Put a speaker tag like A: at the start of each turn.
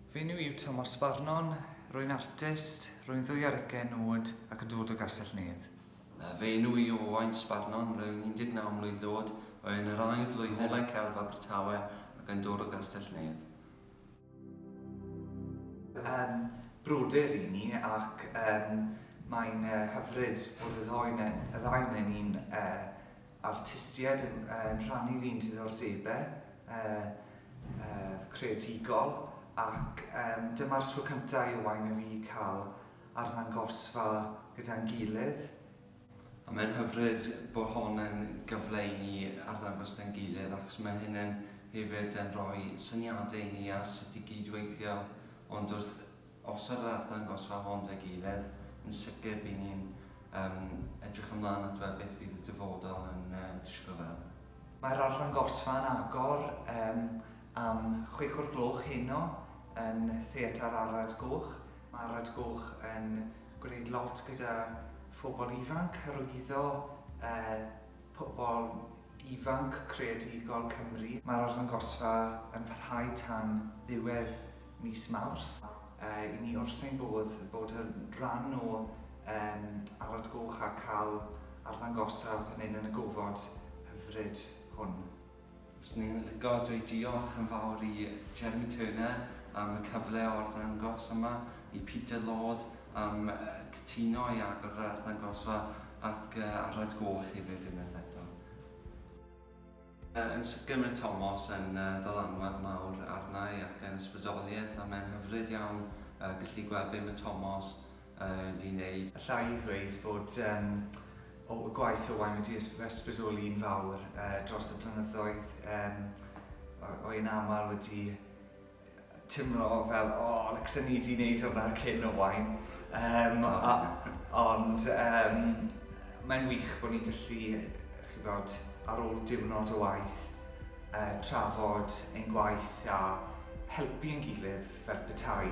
A: Fy enw yw Tomos Barnon, rwy'n artist, rwy'n ddwy ar ugain oed ac yn dod o Gastell-nedd. Fy enw i yw Owain Sbarnon, rwy'n 19 mlwydd oed, rwy yn yr ail flwyddyn yn Celf Abertawe ac yn dod o Gastell-nedd. Yym, brodyr ry'n ni ac yym mae'n hyfryd bod y ddou 'ne- y ddau 'nen ni'n yy artistiaid yn yn rhannu'r un diddordebau yy yy creadigol ac yym dyma'r tro cynta' i Owain a fi cael arddangosfa gyda'n gilydd. A mae'n hyfryd bod hon yn gyfle i ni arddangos 'da'n gilydd achos mae hyn yn hefyd yn rhoi syniadau i ni ar sut i gyd-weithio ond wrth Os ar yr arddangos rhan hon deg eiledd, yn sicr by ni'n edrych ymlaen at weld beth fydd y dyfodol yn disgwyl fel. Mae'r arddangosfa yn agor am chwech o'r gloch heno yn Theatr Arad Goch. Mae Arad Goch yn gwneud lot gyda phobl ifanc, hyrwyddo pobl ifanc creadigol Cymru. Mae'r arddangosfa yn parhau tan ddiwedd mis Mawrth. I ni wrth ein bodd bod yn rhan o Aled Goch a cael arddangosfa fan hyn yn y gofod hyfryd hwn. Fyswn i'n licio dweud diolch yn fawr i Jeremy Turner am y cyfle o arddangos yma, i Peter Lord am cytuno i agor yr arddangosfa ac Aled Goch hefyd unwaith eto. Yn sicr mae Tomos yn ddylanwad mawr arna i ac yn ysbrydoliaeth a mae'n hyfryd iawn gallu gweld be mae Tomos wedi wneud. Alla i ddweud bod y gwaith Owain wedi fy ysbrydoli'n fawr dros y blynyddoedd. Rwy'n aml wedi timlo fel o licsen ni di neud hwnna cyn Owain yym a ond yym mae'n wych bo' ni'n gallu ch'bod ar ôl diwrnod o waith yy trafod ein gwaith a helpu ein gilydd fel petai.